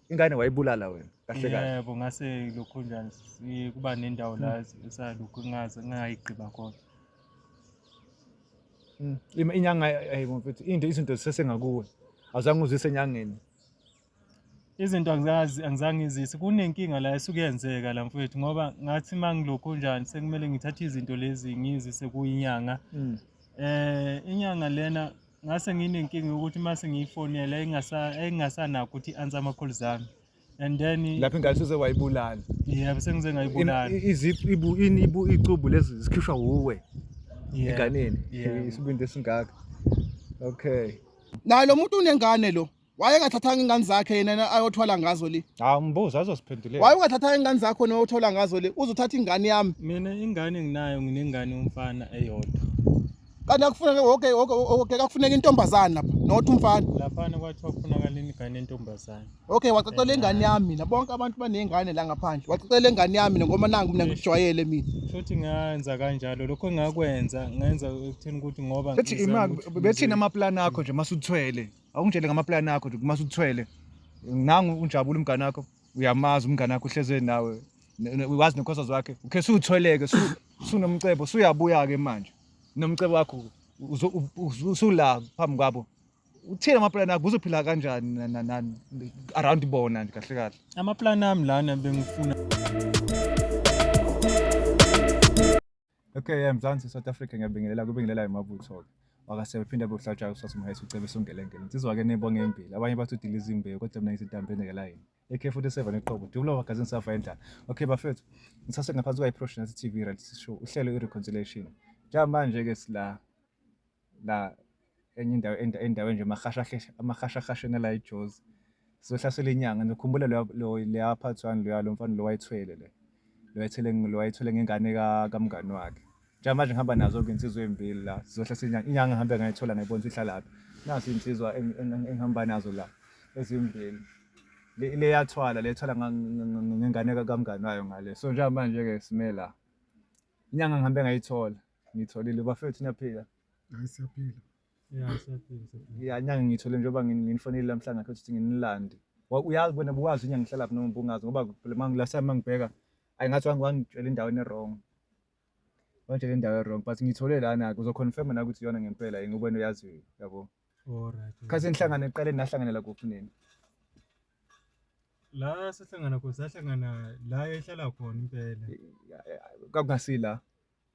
ingane wayibulala wena kahle kahle yebo ngase lokho njani si- kuba nendawo la hmm. esalokhu ngaze ngayigqiba khona hmm. Ima- inyanga ayibo mfethu into izinto zisesengakuwe awuzange uzise enyangeni izinto angizazi angizange izise kunenkinga la esuke yenzeka la mfethu ngoba ngathi uma ngilokhu njani sekumele ngithathe izinto lezi ngizise kuyinyanga hmm. eh inyanga lena ngase nginenkinga yokuthi uma sengiyifonela engasanakho ukuthi i-answer ama-calls ami and then lapho ingane seze wayibulala yebo sengize ngayibulala icubu lezi zikhishwa wuwe enganeni isibindi esingaka okay naye lo muntu unengane lo wayengathathanga ingane zakhe yena ayothwala ngazo le hawu mbuzo azosiphendulela waye ungathathanga ingane zakho nowothola ngazo le uzothatha ingane yami mina ingane nginayo nginengane yomfana eyodwa kanti akufuneke woke woke woke kakufuneka intombazane lapha not umfana laphana kwathiwa kufunakala ingane entombazane okay wacacela ingane yami mina bonke abantu banezingane la ngaphandle wacacela ingane yami ngoba nangu mina ngijwayele mina futhi ngenza kanjalo lokho engakwenza ngenza ekutheni ukuthi ngoba bethi imali bethini amaplan akho nje masuthwele awungitshele ngamaplani akho nje uma uthwele nangu unjabula umngane wakho uyamazi umngane wakho uhleze nawe wazi nekhosazi wakhe ukhe suthweleke sunomcebo suyabuya ke manje nomcebo wakho usula phambi kwabo uthini amaplani akho uzophila kanjani around bona nje kahle kahle amaplani ami lana bengifuna Okay, yeah, Mzansi South Africa ngiyabingelela kubingelela imabutho-ke. Wakasebe phinde abe uhlatshayo uSasa Mhayisi ucebe sungelengele. Insizwa-ke nebonge embili. Abanye bathi udila izimbewu kodwa mina ngisidambe endekela yini. AK47 eqobo. Dulo magazini safa endlala. Okay bafethu. Ngisase ngaphansi kwayi-Prosh Nathi TV Reality Show. Uhlelo i-Reconciliation. Njamanje-ke sila la enye indawo endaweni nje amahashahasheni la ejozi sizohlasela inyanga nikhumbula leya part one loya lo mfana lo wayithwele le lo wayithwele lo wayithwele ngengane kamngani wakhe njengamanje ngihamba nazo-ke insizwa ey'mbili la sizohlasela inyanga inyanga ngihambe ngayithola ngayibona ukuthi ihlalaphi nazo iy'nsizwa engihamba nazo la ezimbili leyathwala lethwala ngengane kamngani wayo ngale so njengamanje-ke simela inyanga ngihambe ngayithola Ngitholile bafethu niyaphila. Hayi siyaphila. Yeah, siyaphila. siyaphila. Ya nyanga ngithole njengoba ngin- nginifonile lamhla ngakhe ukuthi nginilande. Wa- Uyazi wena buwazi inyanga ngihlala phi noma ubungazi ngoba phela mangi last time mangibheka ayi ngathi wangi- wangitshela indawo ene wrong. Wangitshela indawo e wrong but ngithole lana ke uzoconfirm na ukuthi iyona ngempela yini ubona uyaziyo yabo. All right. Khathi nihlangana eqaleni nahlanganela kuphi nini? La sahlangana khona sahlangana la ehlala khona impela. Ya- ya- Kwakungasila.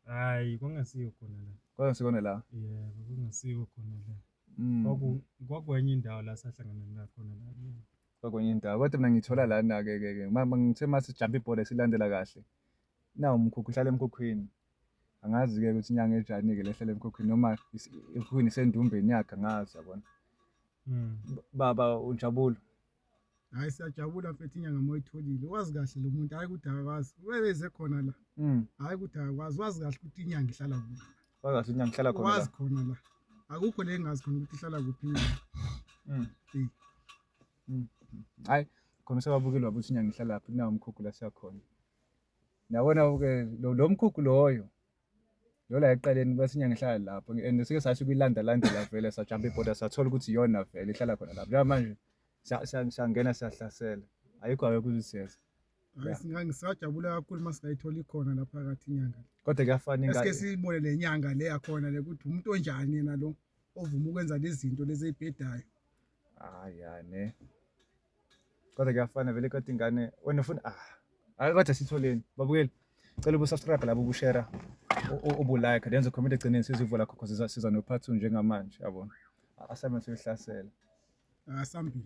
Hayi kwangasiyo khona la. Kwakungasikona la. Yeah, kwangasiyo khona la. Mm. Kwaku kwakwenye indawo la sahlangana la khona la. Kwakwenye indawo. Kodwa mina ngithola lana ke ke ke. Mama ngithe mase jump ibhola silandela kahle. Nawu umkhukhu uhlala emkhukhwini. Angazi ke ukuthi inyanga ejani ke lehlele emkhukhwini noma ikhuni sendumbeni yakhe angazi yabona. Mm. Baba unjabulo. hayi siyajabula mfethu inyanga uma uyitholile wazi kahle lo muntu hhayi ukuthi akakwazi ubebeze khona la Mm. hhayi ukuthi akakwazi wazi kahle ukuthi inyanga ihlala kuphi Wakahle inyanga ihlala khona. wazi la. khona la akukho le engazi khona ukuthi ihlala kuphi inyanga Mm. Eh. Mm. Hayi, khona usababukeli wabo ukuthi inyanga ihlala phi nawo umkhukhu la siyakhona. Nabona ke lo lo mkhukhu loyo Yo la ekuqaleni kwesinye ngihlala lapho and sike sasho kuyilanda landela vele sajamba ibhoda sathola ukuthi iyona vele ihlala khona lapho. Njengamanje siyangena siyahlasela. Ayikho ayikho uzisiyeza. ngisajabula kakhulu uma singayitholi khona la phakathi inyanga Kodwa kuyafana esike ingane. siyibone le nyanga le yakhona le ukuthi umuntu onjani yena lo ovuma ukwenza lezi zinto lezi eyibhedayo Hayi hayi ne. Kodwa kuyafana vele kodwa ingane wena ufuna ah. Ake kodwa sitholeni. Babukeli. Cela ubusubscribe labo ubushare ubulike lenze comment egcineni sizivula khokho siza siza no part 2 njengamanje yabona. Assignment yokuhlasela. Asambili.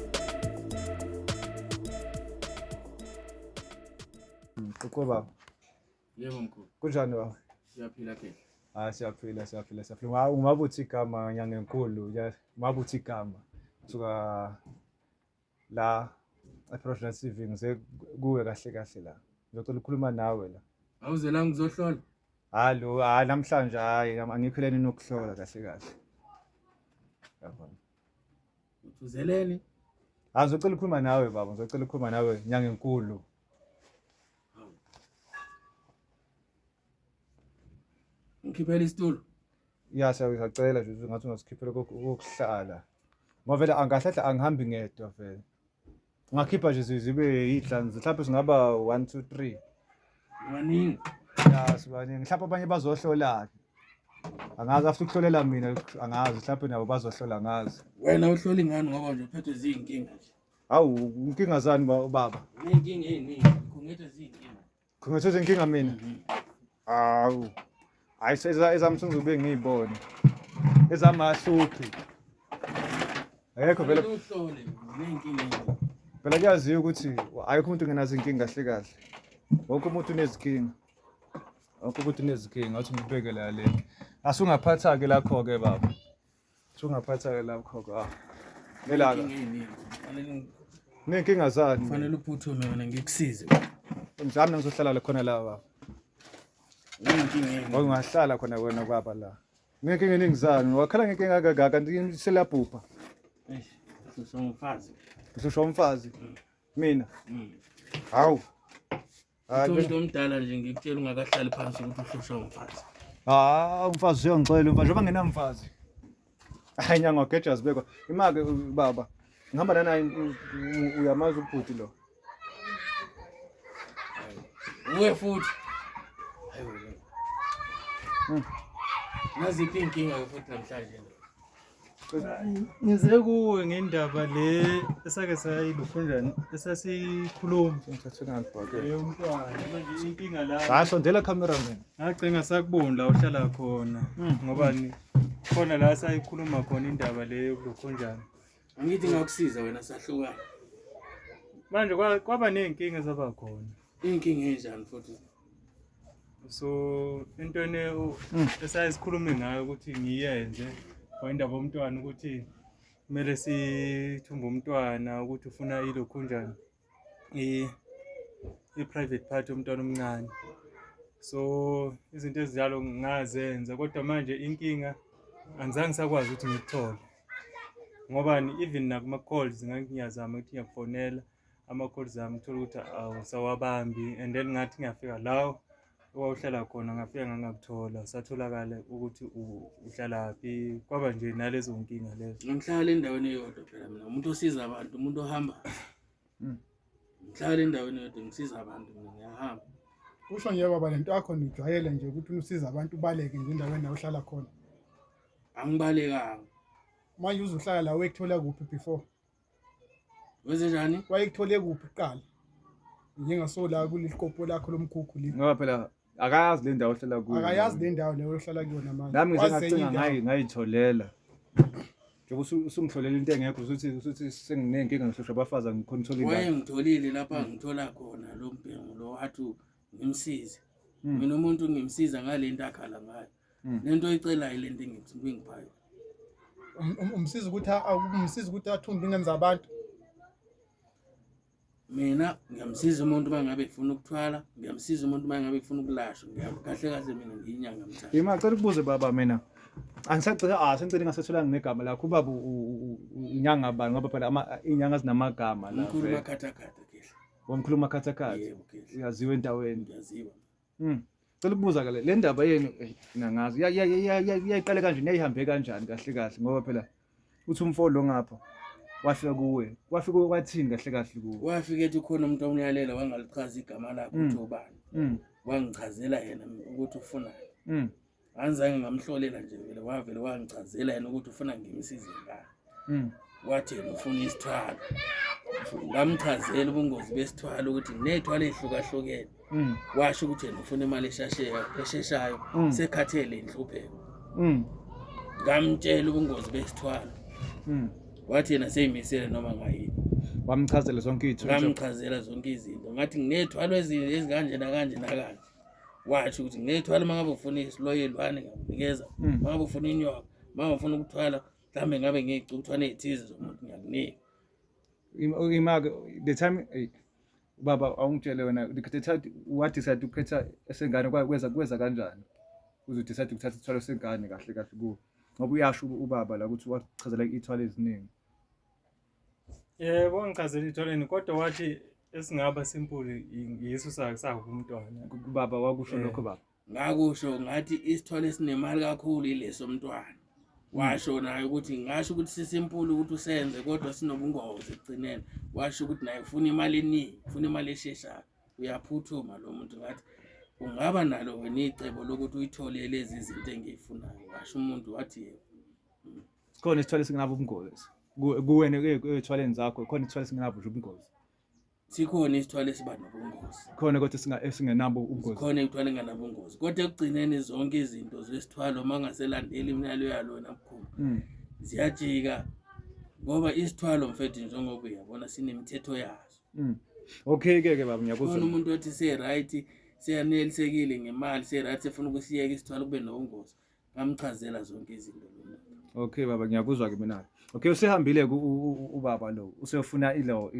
Uqobo baba. Yebo mkhulu. Kunjani baba? Siyaphila ke. Ah siyaphila siyaphila siyaphila. Ngawu umabuthi igama nyanga enkulu. Umabuthi igama. Suka la eProvidence TV ngize kuwe kahle kahle la. Ngizocela ukukhuluma nawe la. Awuze la ngizohlola. Hallo, hayi namhlanje hayi angikho leni nokuhlola kahle kahle. Yabona. Uthuzeleni? Ah, ngizocela ukukhuluma nawe baba, ngizocela ukukhuluma nawe nyanga enkulu. Ngikhiphela isitulo. Ya siyacela nje ngathi ungasikhiphela kokuhlala. Ngoba vele angahlahla angihambi ngedwa vele. Ungakhipha nje zibe yihlanu mhlawumbe singaba 1 2 3. Waningi. Ya sibaningi. Mhlawumbe abanye bazohlola-ke. Angazi after ukuhlolela mina angazi mhlawumbe nabo bazohlola ngazi. Wena uhloli ngani ngoba nje uphethwe zinkinga nje. Hawu inkinga zani baba? Inkinga eziningi, khungethe zinkinga. Khongathoza inkinga mina. Awu. Hayi seza ezamsungu zobe ngiyibone. Ezamahluki. Ayekho vele. Uhlole nenkinga. Phela kuyaziwa ukuthi ayikho umuntu ngenazo inkinga kahle kahle. Wonke umuntu unezikinga. Wonke umuntu unezikinga, uthi ngibekele yale. Asungaphatha ke lakho ke baba. Sungaphatha-ke lapho ka. Ngelaka. Inkinga yini? Kufanele ngi- Ney'nkinga zani? kufanele uphuthume wena ngikusize Mzami nangizohlala la khona la baba. inkinga yini Ngangingahlala khona wena baba la. Ney'nkinga eningi zani? Wakhala ngenkinga kangaka kanti seliyabhubha. Eish, sisongumfazi Ngihlushwa umfazi. Mina. Mm. Hawu. Ah, Uthi umuntu omdala nje ngikutshela ungakahlali phansi ukuthi uhlushwa umfazi. Ah, umfazi uyongixolela umfazi njengoba nginamfazi. Hayi nyanga wageja zibekwa. Imake u- baba. Ngihamba nanaye u- u- uyamazi ubhuti lo. Uwe futhi. Hayi wena. Hmm. Naziphi inkinga ke futhi namhlanje. ngize kuwe ngendaba le esake sayilufunjani esasikhuluma inkinga la hayi sondela camera man ngagcinga sakuboni la uhlala khona hmm. ngoba ni khona la sayikhuluma khona indaba le yokulokhonjani angithi ngakusiza wena sahlukana manje kwaba ney'nkinga ezaba khona Inkinga enjani futhi? So into ene hmm. esayisikhulume ngayo ukuthi ngiyenze kwayindaba omntwana ukuthi kumele sithumbe umntwana ukuthi ufuna ilokhu njani i-private part yomntwana omncane so izinto ezinjalo ngazenza kodwa manje inkinga angizange sakwazi ukuthi ngikuthole ngobani even nakuma-calls ngangiyazama ukuthi ngiyakufonela ama-calls ami uthole ukuthi awusawabambi and then ngathi ngiyafika lawo owawuhlala khona ngafika ngangakuthola satholakale ukuthi uhlalaphi kwaba nje nalezo nkinga lezo ngihlala endaweni eyodwa phela mina umuntu osiza abantu umuntu ohamba hmm. ngihlala endaweni eyodwa ngisiza abantu mina ngiyahamba kusho nje baba lento yakho nijwayele nje ukuthi usiza abantu ubaleke nje endaweni la uhlala khona angibalekanga manje uzuhlala la wekuthola kuphi before wenze njani wayekuthole kuphi kuqala njengasola kulikopo lakho lomkhukhu li ngoba phela akayazi le ndawo ohlala kuyo akayazi le ndawo leyo ohlala kuyona manje nami ngisengacinga ngayi ngayitholela njengoba usungihlolela into engekho usuthi usuthi senginenkinga ngihlushwa abafazi angikhona uthola indawo wayengitholile lapha ngithola khona lo mbhengu lo athi ngimsize hmm. mina umuntu ngimsiza ngale nto akhala ngayo Hmm. lento oyicelayo lento engiphayo um, um, umsiza ukuthi umsiza ukuthi athumbe ingane zabantu mina ngiyamsiza umuntu uma ngabe efuna ukuthwala ngiyamsiza umuntu uma ngabe efuna ukulashwa kahle kahle mina ngiyinyanga mthatha yima cela ukubuze baba mina angisacela ah sengicela ngasetholanga negama lakho ubaba inyanga bani ngoba phela inyanga zinamagama la umkhulu makhathakhatha kehla umkhulu makhathakhatha uyaziwa endaweni uyaziwa Mm. Cela ukubuza ke le ndaba yenu eh, nangazi yayiqale kanje niyayihambe kanjani kahle kahle ngoba phela uthi umfo lo ngapha wafika kuwe wafika wathini kahle kahle kuwe wafika ethi khona umuntu omyalela wangalichaza igama lakhe mm. uthi ubani mm. wangichazela yena ukuthi ufunani angizange ngamhlolela nje vele wavele wangichazela yena ukuthi ufuna ngimsize ngani mm. wathi yena ufuna isithwalo ngamchazela ubungozi besithwalo ukuthi ney'thwalo ey'hlukahlukene mm. washo ukuthi yena ufuna imali esheshayo mm. sekhathele inhlupheko mm. ngamtshela ubungozi besithwalo wathi yena seyimisele noma ngayini wamchazela zonke iy'tho ngamchazela zonke izinto ngathi nginey'thwalo ezikanje nakanje nakanje wathi ukuthi ngithwala uma ngabe ufuna isiloyelwane ngakunikeza hmm. uma ngabe ufuna inyoka uma ngabe ufuna ukuthwala mhlawumbe ngabe ngiyicukthwana ey'thize zomuntu ngiyakunika imake the time ubaba awungitshele wena wadecide ukukhetha esengane kweza kweza kanjani uzodecide ukuthatha isithwalo sengane kahle kahle kuwo ngoba uyasho ubaba la ukuthi wachazela iy'thwalo eziningi Yebo ngichazela itholeni kodwa wathi esingaba simple yiso sakusaku umntwana. Baba wakusho Eh. lokho baba. ngakusho ngathi isithole esinemali kakhulu ileso mntwana washo naye ukuthi ngasho ukuthi sisimpulu ukuthi usenze kodwa sinobungozi ekugcineni washo ukuthi naye ufuna imali eningi ufuna imali esheshayo uyaphuthuma lo muntu ngathi ungaba nalo wena icebo lokuthi uyithole lezi zinto engiyifunayo washo umuntu wathi yebo sikhona isithwalo esingenabo ubungozi kuwena ethwaleni zakho khona isithwalo esingenabo nje ubungozi sikhona isithwalo esiba nobungozi khona kodwa esingenabo ubungozi khona ithwalo engenabo ubungozi kodwa ekugcineni zonke izinto zesithwalo uma ungaselandeli imiyalo yalona mkhulu hmm. ziyajika ngoba isithwalo mfethu njengoba uyabona sinemithetho yaso hmm. okay ke ke baba ngiyakuzwa umuntu othi se right seyanelisekile ngemali se right sefuna ukusiyeka isithwalo kube nobungozi ngamchazela zonke izinto okay baba ngiyakuzwa ke mina okay usehambile ubaba lo usefuna ilo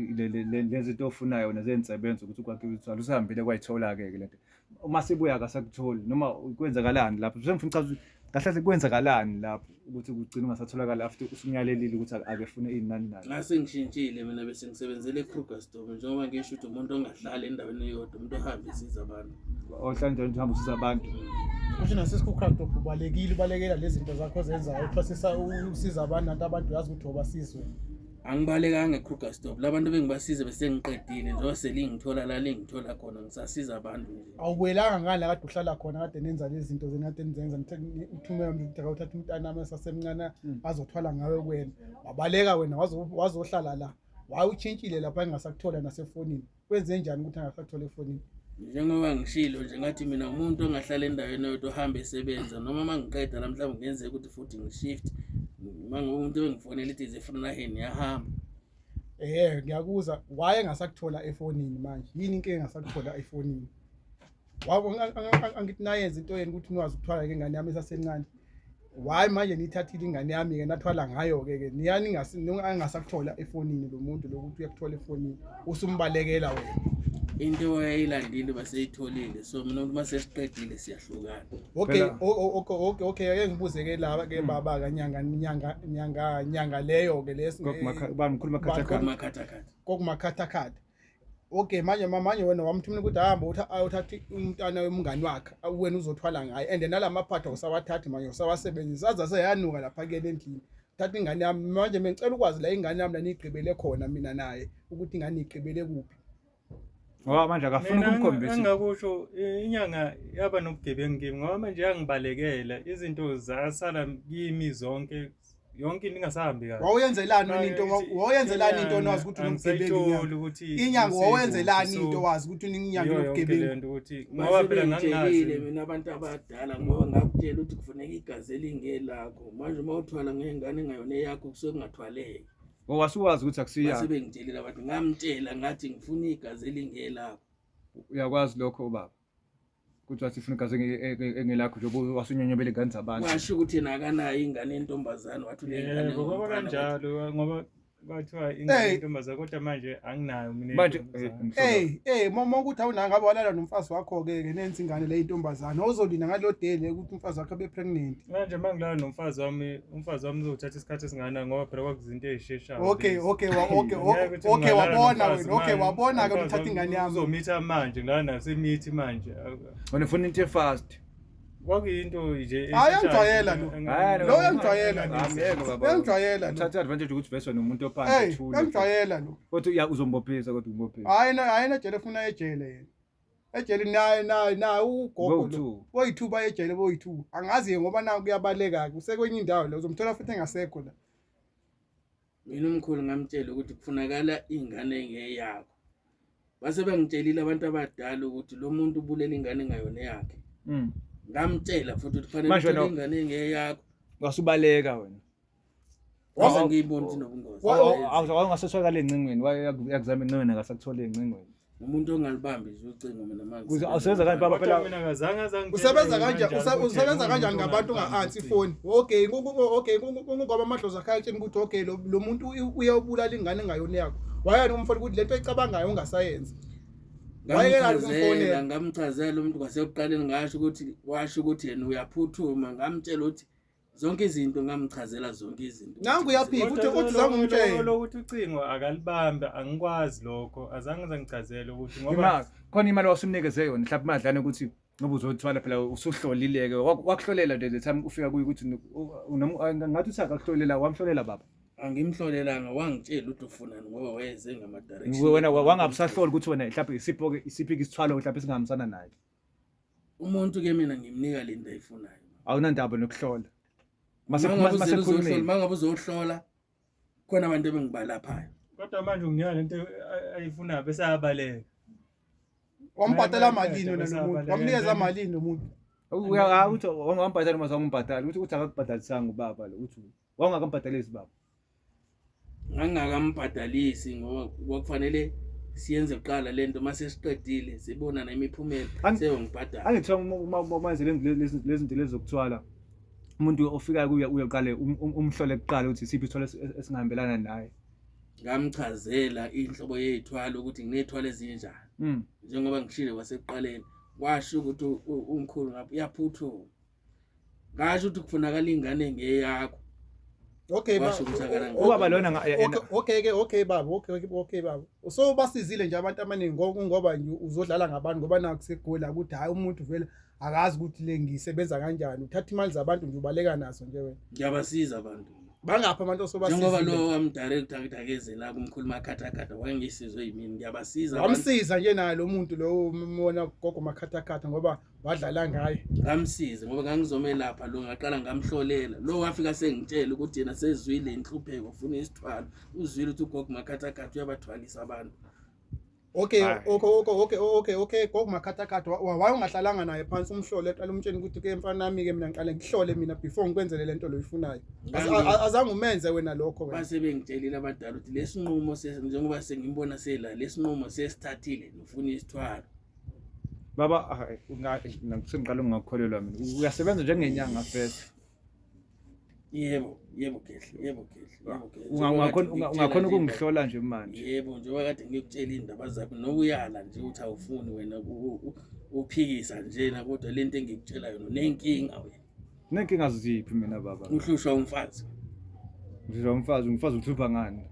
lezinto ofunayo nezensebenzo ukuthi ukwakhiwe uthwala usehambile kwayithola ke ke lento uma sibuya akasakutholi noma kwenzakalani lapho sengifuna uchaza kahle kahle kwenzakalani lapho ukuthi kugcina ungasatholakala after usumyalelile ukuthi ake fune izinani nani ngase ngishintshile mina bese ngisebenzele eKrugersdorp njengoba ngisho ukuthi umuntu ongahlali endaweni eyodwa umuntu ohambe isiza abantu ohlanjani uhamba usiza abantu kusho nasesikhukhrakt ubalekile ubalekela lezi zinto zakho zenzayo uthwasisa usiza abantu nanti abantu uyazi ukuthi obasizwe angibalekanga ekruger stop la bantu bengibasize besengiqedile njengoba selingithola la lingithola khona ngisasiza abantu nje awubuyelanga ngani la kade uhlala khona kade nenza lezi zinto zena kade nizenza uthumela mntu ukuthi akawuthatha umntana ami esasemncane hmm. azothwala ngawe kuwena wabaleka wena wazohlala la wayewutshintshile lapha engasakuthola nasefonini kwenze njani ukuthi angasathole efonini njengoba ngishilo nje ngathi mina umuntu ongahlala endaweni oyodwa ohambe esebenza noma uma ngiqeda la mhlawumbe kungenzeka ukuthi futhi ngishift uma umuntu engifonela ithi zefrunaheni yahamba ehe ngiyakuzwa waye engasakuthola efonini manje yini inkinga engasakuthola efonini wabo angithi nayenza into yeni ukuthi niwazi ukuthwala ke ngane yami esasencane why manje nithathile ingane yami ke nathwala ngayo ke ke niyani ngasi ningasakuthola efonini lo muntu lokuthi uyakuthola efonini usumbalekela wena into eyilandile baseyitholile so mina umuntu masesiqedile siyahlukana okay okay okay okay ake ngibuze ke laba ke hmm. baba ka nyanga nyanga nyanga nyanga leyo ke lesi kokumakhatha kokumakhatha kokumakhatha okay manje manje wena wamthumela ukuthi hamba uthathe umntana womngani wakhe wena uzothwala ngaye and nala maphatha usawathathi manje usawasebenzisa aze aseyanuka lapha kuyena endlini thatha ingane yami manje bengicela ukwazi la ingane yami laniyigqibele khona mina naye ukuthi ingane igqibele kuphi ngoba manje akafuni ukumkhombisa engakusho inyanga yaba nobugebengu kimi ngoba manje yangibalekela izinto zasala kimi zonke yonke into ingasahambi kahle wawuyenzelani wena into wawuyenzelani into onazi ukuthi unomsebenzi ukuthi inyanga wawuyenzelani into wazi ukuthi uninyanga yokugebengu lento ukuthi ngoba phela ngangazi mina abantu abadala ngoba ngakutshela ukuthi kufanele igazi elingelakho manje uma uthwala ngengane engayona eyakho kusuke kungathwaleki owasuwazi ukuthi akusiyakho sebengitshelela abantu ngamtshela ngathi ngifuna igazi elingelakho uyakwazi lokho ubaba kuthiwa sifuna igazi engelakho njengoba wasunyonyobela ingane zabantu washo ukuthi yena akanayo ingane yentombazane wathi unengane ngoba kanjalo ngoba kwathiwa ingane yentombazane kodwa manje anginayo mina manje hey hey mama ukuthi awunanga ngabe walala nomfazi wakho ke ke nenzi ingane le intombazane ozolina ngalo dele ukuthi umfazi wakho be pregnant manje mangilala nomfazi wami umfazi wami uzothatha isikhathi esingana ngoba phela kwakuzinto ezisheshayo okay okay wa okay okay wabona wena okay wabona ke uthatha ingane yami uzomitha manje la nasemithi manje wena ufuna into efast kwakuyinto nje ayangijwayela lo lo uyangijwayela uyangijwayela lo thatha advantage ukuthi vese wena umuntu ophansi thula uyangijwayela lo kodwa uzombophiza kodwa umbophisa hayi hayi na jele ufuna ejele yena ejele naye naye naye ugogo lo boyi-two baye ejele boyi-two angazi-ke ngoba naku kuyabaleka-ke usekwenye indawo la uzomthola futhi engasekho la mina umkhulu ngamtshela ukuthi kufunakala iy'ngane engeyakho base bangitshelile abantu abadala ukuthi lo muntu ubulela ingane engayona eyakhe mm. ngamtshela futhi ukuthi fanele ingane engeyakho wasubaleka wena Waze ngiyibona ukuthi nobungozi. Awungasethweka le ncingweni, wayakuzama incingweni akasakuthole incingweni. umuntu ongalibambi nje ucingo mina manje usebenza kanjani baba phela mina ngazange azange usebenza kanjani usebenza kanjani ngabantu unga-ansi ifoni okay okay kungoba amadlozi akhe ayatsheni ukuthi okay lo muntu uyawubulala ingane engayona yakho wayani umfona ukuthi le nto eyicabangayo ungasayenzi ngamchazela ngamchazela umuntu kwasekuqaleni ngasho ukuthi washo ukuthi yena uyaphuthuma ngamtshela ukuthi zonke izinto ngamchazela zonke izinto nangu uyaphika uthi uthi zange umtshele lokuthi ucingo akalibambe angikwazi lokho azange zangichazele ukuthi ngoba khona imali wasumnikeze yona mhlawumbe imadlana ukuthi ngoba uzothwala phela usuhlolileke wakuhlolela nje the time ufika kuyo ukuthi ngathi uthi akakuhlolela wamhlolela baba angimhlolelanga wangitshela ukuthi ufunani ngoba wayeze ngama-direction wena wangabusahloli ukuthi wena mhlawumbe isiphi-ke isithwalo mhlawumbe esingahambisanani naye umuntu ke mina ngimnika lento ayifunayo awunandaba nokuhlola masekhulumile mangabe uzohlola khona abantu ebengibalaphayo kodwa manje unginika lento ayifunayo bese ayabaleka wambhadala malini wena lomuntu wamnikeza malini lomuntu uthi wambhadala uma uzombhadala uthi uthi akakubhadalisanga ubaba lo uthi wawungakambhadalisi baba ngangingakambhadalisi ngoba kwakufanele siyenze kuqala le nto uma sesiqedile sibona nemiphumela seyongibhadala angithiwa manje lezi zinto lezi zokuthwala umuntu ofikayo kuye uyoqale um-, um-, umhlole kuqala ukuthi siphi isithwalo esingahambelana naye ngamchazela inhlobo yey'thwalo ukuthi nginey'thwalo ezinjani mm. njengoba ngishile kwasekuqaleni kwasho ukuthi umkhulu ngapha uyaphuthuma ngasho ukuthi kufunakala ingane ngeyakho Okay baba. Ubaba lona Okay ke okay baba. Okay okay baba. So basizile nje abantu abaningi ngoba uzodlala ngabantu ngoba naku segula ukuthi hayi umuntu vele akazi ukuthi le ngisebenza kanjani. Uthatha imali zabantu nje ubaleka nazo nje wena. Ngiyabasiza abantu. Bangapha abantu osobasiza. Njengoba lo am director akudakeze la kumkhuluma khatha khatha wangisizwe yimini ngiyabasiza. Wamsiza nje naye lo muntu lo umona gogo makhatha khatha ngoba wadlala ngaye ngamsize ngoba ngangizomelapha lo ngaqala ngamhlolela lo wafika sengitshela ukuthi yena sezwile inhlupheko ufuna isithwalo uzwile ukuthi ugogo makhathakhathi uyabathwalisa abantu okay okay okay okay okay okay gogo makhathakhathi waye ungahlalanga naye phansi umhlole eqala umtsheni ukuthi ke mfana nami ke mina ngiqale ngihlole mina before ngikwenzele lento loyifunayo azange umenze wena lokho wena base bengitshelile abadala ukuthi lesinqumo njengoba sengimbona sela lesinqumo sesithathile nofuna isithwalo baba sengiqala ungakholelwa mina uyasebenza njengenyanga fesa yebo yebo gehle yebo gehle ungakhona ukungihlola nje manje yebo njengoba kade ngikutshela iy'ndaba zakho nokuyala nje ukuthi awufuni wena uphikisa njena kodwa le nto engikutshela yona unenkinga wena Ngeke ngaziphi mina baba. Uhlushwa umfazi. Uhlushwa umfazi, umfazi uhlupha ngani?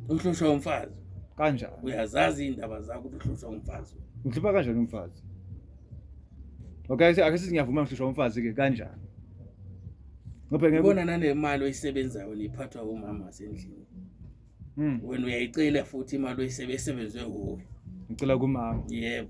Uhlushwa umfazi. Kanjani? Uyazazi indaba zakho uhlushwa umfazi. Ngihlupha kanjani umfazi? Okay, ake sithi ngiyavuma ngihlushwa umfazi ke kanjani? Ngoba ngeke ubona nanemali oyisebenzayo niphathwa umama sendlini. Hmm. Wena uyayicela futhi imali oyisebenze kuwe. Ngicela kumama. Yebo.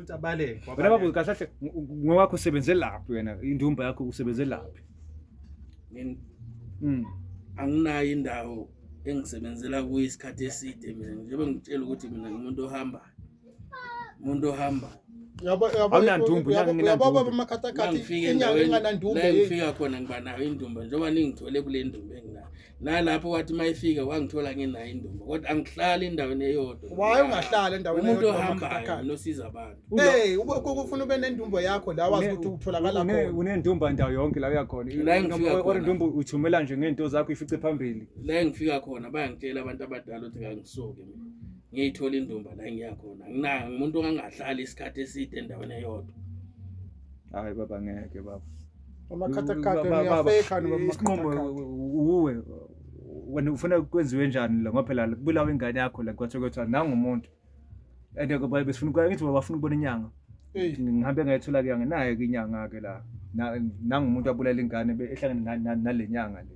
ukuthi abaleke wena wabaleka. babuze kahle kahle ng- ngowakho usebenze laphi wena indumba yakho usebenze laphi Mina Mm. anginayo indawo engisebenzela kuyo isikhathi eside mina njengoba ngitshela ukuthi mina ngumuntu ohambayo umuntu ohambayo Yabo yabo Awunandumbu, yabo- nangina yabo ndumbu. bamakhathakhathi nangifika inyanga endaweni enganandumbu la ye- engifika khona ngiba nayo indumba njengoba ningithole kule ndumba enginayo nalapho wathi uma efika wangithola nginayo indumba kodwa angihlali endaweni eyodwa waye ungahlala endaweni umuntu ohambayo nosiza abantu hey ukufuna ube nendumba yakho la wazi ukuthi utholakala khona unendumba ndawo yonke la uyakhona la ngifika khona indumba uthumela nje ngento zakho ifice phambili la ngifika khona bayangitshela abantu abadala ukuthi kangisoke mina ngiyithola indumba la ngiyakhona nginayo umuntu ongangahlali isikhathi eside endaweni eyodwa hayi baba ngeke baba amakhathakhatha niyafekha isinqumo uwe wena ufuna kwenziwe njani la ngoba phela kubulawa ingane yakho la kwathiwa kwathiwa nangumuntu and besifuna ukuya ngithi bafuna ukubona inyanga ngihambe ngayithola ke anginayo ke inyanga ke la nangumuntu abulala ingane ehlangene nale nyanga le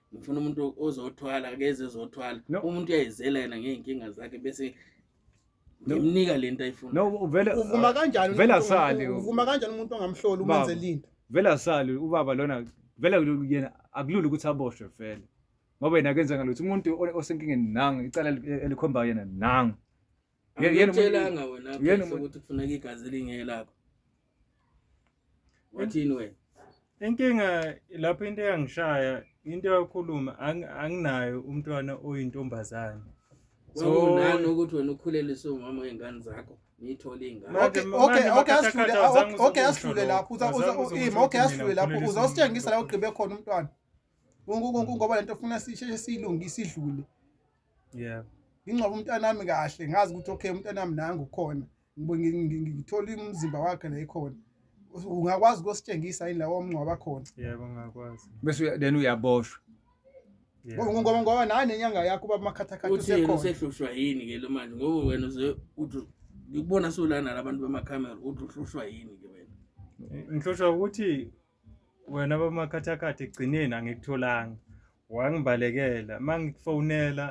ngifuna umuntu ozothwala akeze ezothwala No. umuntu uyayizela yena ngey'nkinga zakhe bese ngimnika le nto ayifuna no uvele uvuma kanjani vele umuntu- asali uvuma kanjani umuntu ongamhloli Baba. umenze linto vele asali ubaba lona vele yena akulula ukuthi aboshwe vele ngoba yena akenza ngalutho umuntu o- osenkingeni nangu icala eli- elikhombayo yena nangu Ngiyakuthelanga wena yena ukuthi kufuneka igazi lingelakho. Wathini wena? Inkinga lapho into eyangishaya into yakhuluma anginayo umntwana oyintombazane. So nani ukuthi wena ukhulelise umama wengane zakho? ngiyithole ingane okay okay okay asidlule okay asidlule lapho uza uza ima okay asidlule lapho uza usitshengisa la ugqibe khona umntwana ngoba lento ufuna sisheshe silunge isidlule yeah ngingcwaba umntanami kahle ngazi ukuthi okay umntanami nangu khona ngithola umzimba wakhe la ekhona ungakwazi ukositshengisa yini lawo omngcwaba khona yebo ngakwazi bese then uyaboshwa ngoba ngoba naye nenyanga yakho uba makhathakhatha usekhona usehlushwa yini ke lo manje ngoba wena uze uthi ngikubona solana labantu bamakamera uthi uhlushwa yini ke wena ngihlushwa ukuthi Wena bamakhathakhatha ekugcineni angikutholanga wangibalekela uma ngikufonela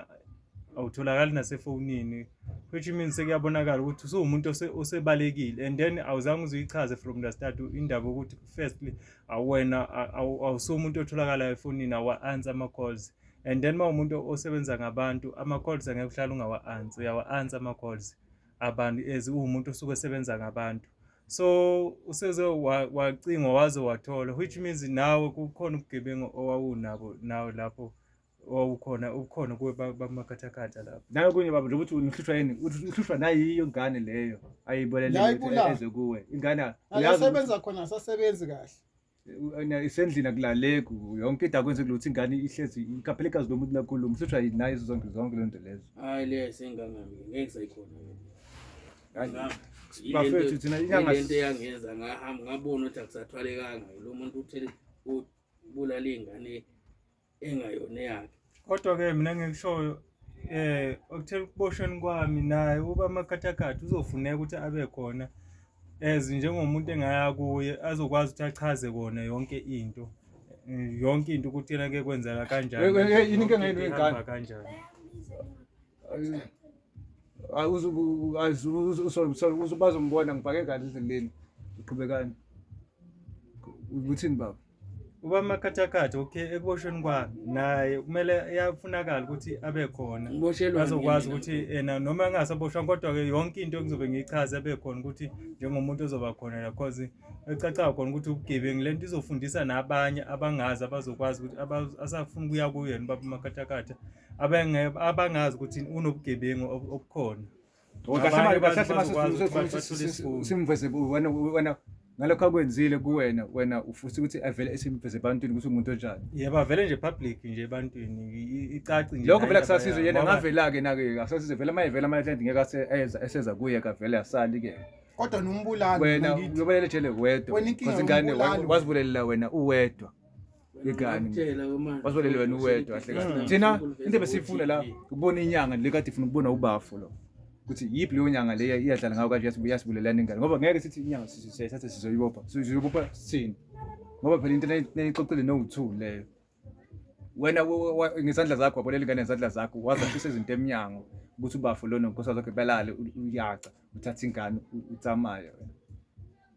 awutholakali nasefonini which means sekuyabonakala ukuthi usuwumuntu osebalekile and then awuzange uzuyichaze from the start indaba ukuthi firstly awena awusumuntu otholakalayo efonini awa-answer ama-calls and then uma umuntu osebenza ngabantu ama-calls angeke uhlale ungawa-answer uyawa-answer ama-calls abantu as uwumuntu osuke esebenza ngabantu so useze wacingwa waze wathola which means nawe kukhona ubugebengu owawunabo nawe lapho owawukhona ubukhona kuwe bamakhathakhatha lapho nawe kunye baba nje ukuthi nihlushwa yini uhlushwa nayiyo ingane leyo ayibolele eze kuwe ingane uyasebenza khona asasebenzi kahle isendlini akulaleki yonke into akwenze kulutho ingane ihlezi ikaphelekazi lo muntu lakhulu mhlushwa yini naye zonke zonke lento lezo hayi le sengangami ngeke sayikhona bafethu thina inyanga lento eyangenza ngahamba ngabona ukuthi akusathwalekanga lo muntu uthele ubulala ingane engayona eyakhe kodwa-ke mina ngikushoyo eh okuthela ukuboshweni kwami naye uba amakhathakhatha uzofuneka ukuthi abe khona as njengomuntu engaya kuye azokwazi ukuthi achaze kona yonke into yonke into ukuthi yena ke kwenzeka kanjani yini inkinga yenu yengane kanjani uzombona ngibhake kahle endleleni uqhubekani uthini baba Uba amakhathakhatha okay ekuboshweni kwami naye kumele yafunakala ukuthi abe khona Uboshelwani azokwazi yena? ukuthi ena noma engasaboshwanga kodwa-ke yonke into engizobe ngiyichaze abe khona ukuthi njengomuntu ozoba khona la cause ecacayo khona ukuthi ubugebengu le nto izofundisa nabanye abangazi abazokwazi ukuthi aba- asafuna ukuya kuyena ubaba umakhathakhatha abenge- abangazi ukuthi unobugebengu ob- obukhona simveze wena wena ngalokho akwenzile kuwena wena ufisa ukuthi avele esimveze ebantwini ukuthi umuntu onjani yebo avele nje public nje ebantwini icaci nje lokho vele kusasize yena ngavela-ke nake akusasize vele uma evela ama-client ngeke eseza kuye kavele asali-ke kodwa nombulali wena uyobalele ejele wedwa wena ingane wazibulelela wena uwedwa igani wasolele wena uwedwa kahle thina into ebesiyifuna la ukubona inyanga le kade ifuna ukubona ubafo lo ukuthi yiphi leyo nyanga le iyadlala ngayo kanje yasibulelana ingane ngoba ngeke sithi inyanga sisayithatha sizoyibopha sizoyibopha sini ngoba phela into nayixoxile no-two leyo wena ngezandla zakho wabolela ingane ngezandla zakho wazafisa izinto emnyango ukuthi ubafo lona nkosi zakhe belale uyaca uthatha ingane utsamaya wena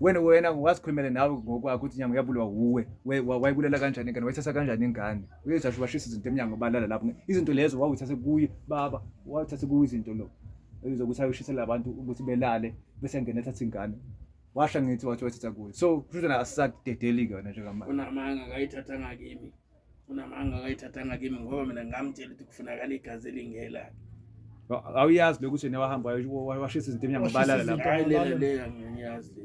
wena wena wazikhulumele nawe ngokwakho ukuthi inyanga uyabuliwa wuwe wayibulela kanjani ingane wayithatha kanjani ingane uyezasho ubashisa izinto emnyango balala lapho izinto lezo wawuthathe kuye baba wawuthathe kuye izinto lo ezokuthi ayoshisela abantu ukuthi belale bese ngena ethatha ingane washa ngithi wathi wayithatha kuye so kusho ukuthi asisakudedeli-ke wena njengamanje unamanga akayithathanga kimi unamanga akayithathanga kimi ngoba mina ngamtshela ukuthi kufunakala igazi elingela awuyazi lokhu uthini wahamba washisa izinto emnyango balala lapho hayi lela leya ngiyazi le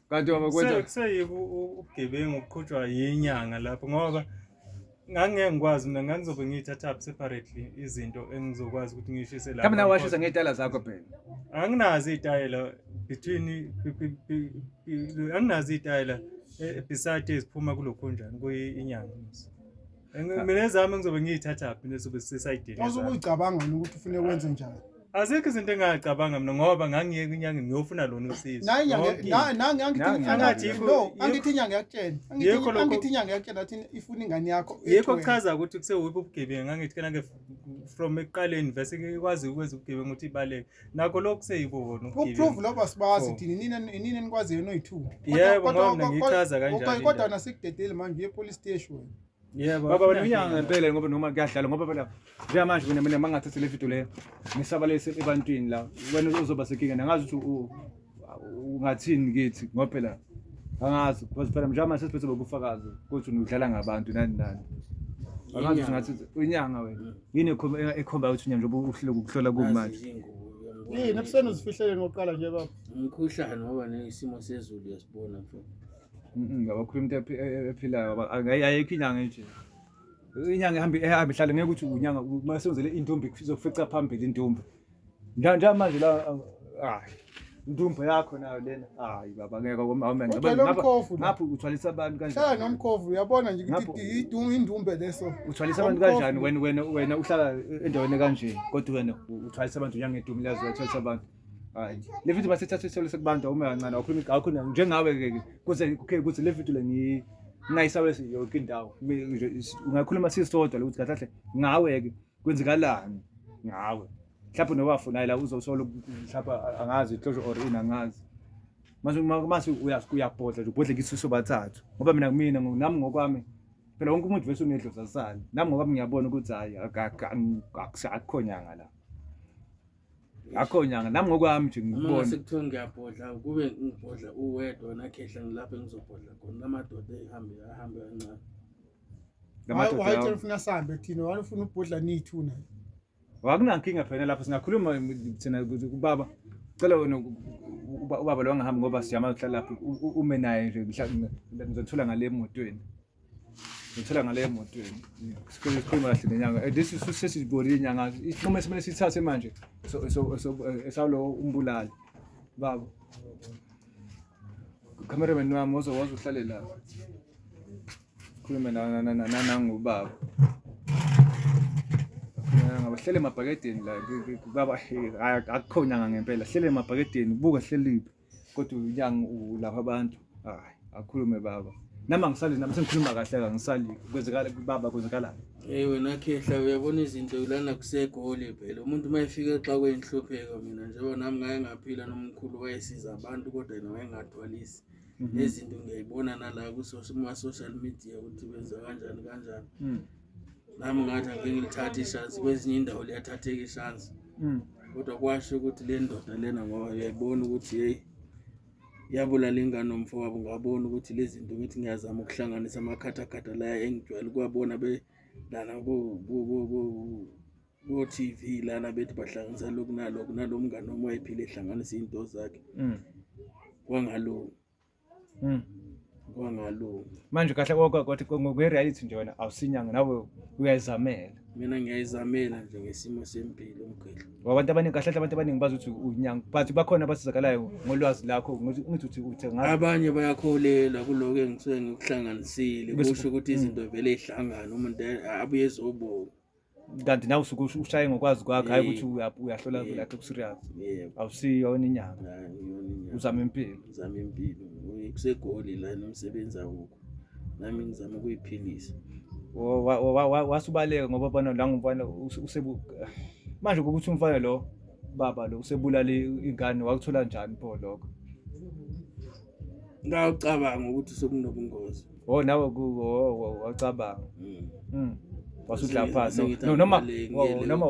kanti baba kwenza kuseyike ubugebengu uqhutshwa yinyanga lapho ngoba ngangeke ngikwazi mina ngangizobe ngiyithatha up separately izinto engizokwazi ukuthi ngiyishise lapho kambe nawe washisa ngey'tayela zakho phela anginazo iy'tayela between anginazo iy'tayela e- beside eziphuma kulokhunjani kuyinyanga Engi- mina ezami ngizobe ngiyithathaphi nesobe sisayidini Waze ezami. ukuyicabanga yini ukuthi ufune wenze njani? azikho izinto engingacabanga mina ngoba ngangiye kwinyanga ngiyofuna lona usizo Nayi nyanga Yonke into. nangi nangi angithi Nangi, angathi nangi. yikho- no yikho- angithi nyanga yakutshela. Angithi Yikho lokho- angithi nyanga yakutshela athi ifuna ingane yakho. yikho ethiwe. kuchaza ukuthi kusewuphi ubugebengu angithi kanake from ekuqaleni vese ikwazi ukwenza ubugebengu ukuthi ibaleke nakho lokhu kuseyikona ukuprove loba sibazi oh. thina nina nina nikwaziyo noyi-two yebo ngoba mina ngichaza kanjani kodwa nasikudedeli manje uye police station yebo baba wena unyanga ngempela ngoba noma kuyadlala ngoba phela njengamanje mina mina mangathathe le video leyo ngisabalise ebantwini la wena uzoba sekinga nangazi ukuthi ungathini kithi ngoba phela angazi because phela mnjama sesiphethe bobufakazi ukuthi udlala ngabantu nani nani angazi ukuthi ngathi uyinyanga wena mm. yini ekhomba ukuthi unyanga njengoba uhlele ukuhlola kumanje yini ebuseni uzifihlele ngokuqala nje baba umkhuhlane ngoba nesimo sezulu yasibona mfowethu ngabakhuluma into e, e, ephilayo ayikho inyanga nje inyanga ehamba ihlale ngeke ukuthi unyanga uma senzele intombi zokufica phambili intombi Njanja manje la hayi. Ndumbo yakho nayo lena. Hayi baba ngeke komama ngapha. Ngapha uthwalisa abantu kanjani? Hlala nomkhovu uyabona nje ukuthi idunga indumbe leso. Uthwalisa abantu kanjani wena wena wena uhlala endaweni kanje kodwa wena uthwalisa abantu uyangedumi lazo uthwalisa abantu. Hayi. Le video masithatha isithole sekubantu uma kancane awukhulumi ngakho njengawe ke kuze okay kuze le video le ngi ngayisawesi yonke indawo. Ungakhuluma sisodwa lokuthi kahle ngawe ke. kwenzekalani ngawe mhlawumbe nowafuna la uzosolo mhlawumbe angazi ihlosho or ini angazi mase mase uyabhodla nje ubhodle kisuso bathathu ngoba mina kumina nami ngokwami phela wonke umuntu vese unedloza sani nami ngokwami ngiyabona ukuthi hayi akukho nyanga la akho nyanga nami ngokwami nje ngikubona sekuthiwa ngiyabhodla kube ngibhodla uwedwa nakhehla ngilapho engizobhodla khona lamadoda ehambe ahambe kancane wayitshela ufuna sambe thina wani ufuna ubhodla nithu naye wakunankinga phela lapho singakhuluma thina ukuthi ubaba cela wena ubaba lo angahambi ngoba siyamazi uhlala lapho ume naye nje ngizothola ngale emotweni ngithola ngale emotweni sikhuluma kahle nenyanga eh, this is sesizibonile inyanga isinqumo esimele sithathe manje esawulo eh, umbulali baba cameraman wami wozowazi uhlale lapho khulume nangubaba hlele emabhakedeni la baba akukho nyanga ngempela hlele emabhakedeni buka hleliphi kodwa unyanga ulapha abantu hayi akhulume baba nami angisali nami sengikhuluma kahle kangisali kwenzekala baba kwenzekalani Hey wena khehla uyabona izinto ulana kusegoli phela umuntu uma efika exakweni nhlupheko mina njengoba nami ngake ngaphila nomkhulu wayesiza abantu kodwa yena wayengathwalisi Mhm. nezinto ngiyayibona nala kuma-social media ukuthi benza kanjani kanjani Mm. nami ngathi angike ngilithathe ishansi kwezinye indawo liyathatheka ishansi Mm. kodwa kwasho ukuthi le ndoda lena ngoba uyayibona ukuthi yeyi yabulala ingane nomfowabo ngabona ukuthi lezi zinto ngithi ngiyazama ukuhlanganisa amakhathakhatha laya engijwayele ukuwabona belana ku- ku- ku- ku- Ngo-TV lana bethi bahlanganisa lokhu nalokhu nalo mngane wami wayephile ehlanganisa iy'nto zakhe Mm. kwangalunga Mm. kwangalunga manje kahle konke kodwa ko- ngokwe-reality nje wena awusinyanga nawe uyayizamela mina ngiyayizamela nje ngesimo sempilo umgqidlo Ngoba abantu abaningi kahle kahle abantu abaningi bazi ukuthi unyanga but bakhona abasizakalayo ngolwazi lakho ngithi ngithi uthi uthe ngazi abanye bayakholelwa kuloko engisuke ngikuhlanganisile Bese- kusho ukuthi izinto vele ihlangane umuntu abuye ezobonga kanti nawe usuke ushaye ngokwazi kwakho hayi ukuthi uyahlola lakhe kuserious awusiyo yona inyanga uzama impilo uzama impilo kusegoli la nomsebenzi awukho nami ngizama ukuyiphilisa wasubaleka ngoba bana la ngumfana usebu manje ukuthi umfana lo baba lo usebulale ingane wakuthola njani pho lokho ngawucabanga ukuthi sekunobungozi oh nawe wacabanga mm. mm. wasudla phansi noma noma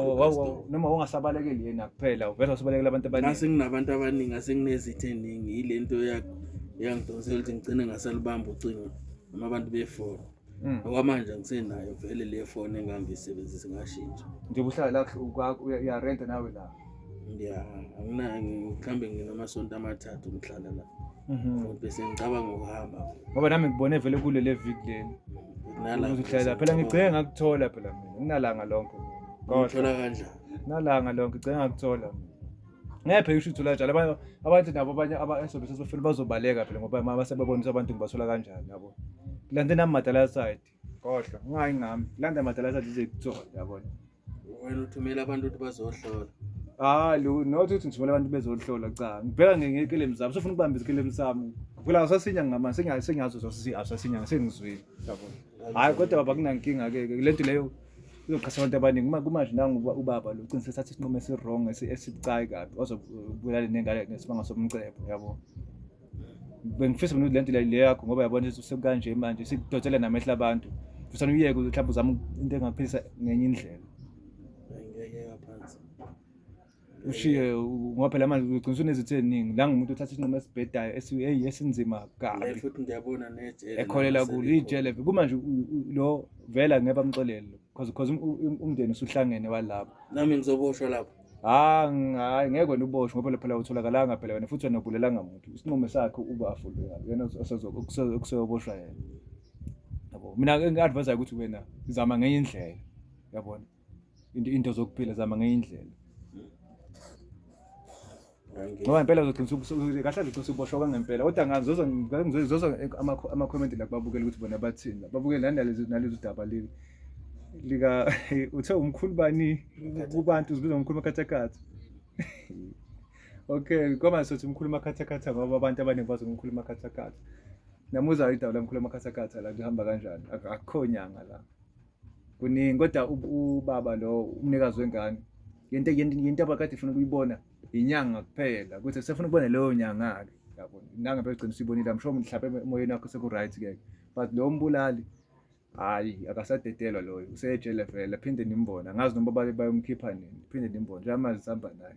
noma ungasabalekeli yena kuphela uvela usabalekela abantu abaningi ngase nginabantu abaningi ngase nginezithe eningi yile nto yakho yangidonsela ukuthi ngigcine ngasalibamba ucingo noma abantu befona Mm. Okwamanje ngisenayo vele le phone engangiyisebenzisa ngashintsha. Nje uhlala la kwakho uya rent nawe la. Yeah, angina ngikhambe nginamasonto amathathu ngihlala la. Mhm. Bese ngicabanga ukuhamba. Ngoba nami ngibone vele kule le week leni. Nala. Uzohlala phela ngigcenge ngakuthola phela mina. Nginalanga lonke. Kodwa. Ngithola kanjani? Nalanga lonke ngicenge ngakuthola mina. ngeke phela usho uthula njalo abanye abantu nabo abanye abasobe sesofuna bazobaleka phela ngoba mama sebebonisa abantu ngibathola kanjani yabo kulande nami madala side kodwa ungayi ngami kulanda madala side ize kuthola yabona wena uthumela abantu ukuthi bazohlola hayi lo not ukuthi ngithumela abantu bezohlola cha ngibheka ngekelemu zami sofuna ukubamba izikelemu sami phela asasinya ngama sengazi sengazi sosizi asasinya sengizwile yabona hayi kodwa baba kunankinga ke le nto leyo uzoqhasa abantu abaningi uma kumanje nangu ubaba lo ucine sethatha isinqumo esi-wrong esibucayi kabi ozobulala nengane ngesimanga somcebo yabo bengifisa mina le nto le yakho ngoba yabona ukuthi sekukanje manje sikudotshela namehla abantu fusana uyeke mhlawumbe uzama into engaphilisa ngenye indlela ushiye ngoba phela manje ugcina unezithe eziningi la ngumuntu othatha isinqumo esibhedayo eyi esinzima kabi futhi ngiyabona nejele ekholela kulo ijele kumanje lo vela ngeke bamxolele because because um, um, um, umndeni usuhlangene walapho nami ngizoboshwa lapho ah, hayi ngeke wena uboshwe ngoba phela utholakalanga phela wena futhi wena ubulelanga muntu isinqumo sakhe uba afulo yena okuseyoboshwa yena yabo mina ngi-advisayo ukuthi wena zama ngenye indlela yabona into into zokuphila zama ngenye indlela ngoba ngempela uzogcina usuke kahle azogcina usuboshwa kwangempela kodwa ngazoza ngizoza ama comment la kubabukela ukuthi bona bathini babukele lana lezi nalezi udaba leli lika uthe umkhulu bani kubantu uzibiza umkhulu makhathakhatha okay ngoba sothi umkhulu makhathakhatha ngoba abantu abaningi bazi umkhulu makhathakhatha namuza idaba la mkhulu makhathakhatha la kuhamba kanjani akukho nyanga la kuningi kodwa ubaba lo umnikazi wengane yento yento abakade ifuna ukuyibona inyanga kuphela ukuthi sefuna ukubona leyo nyanga-ke yabo nangabe ugcina usuyibonile amsho mhlawumpe emoyeni wakho seku-right ke but lo mbulali hhayi akasadedelwa loyo useyejele vele phinde nimbone angazi noma bayomkhipha nini phinde nimbone njengamanje sihamba naye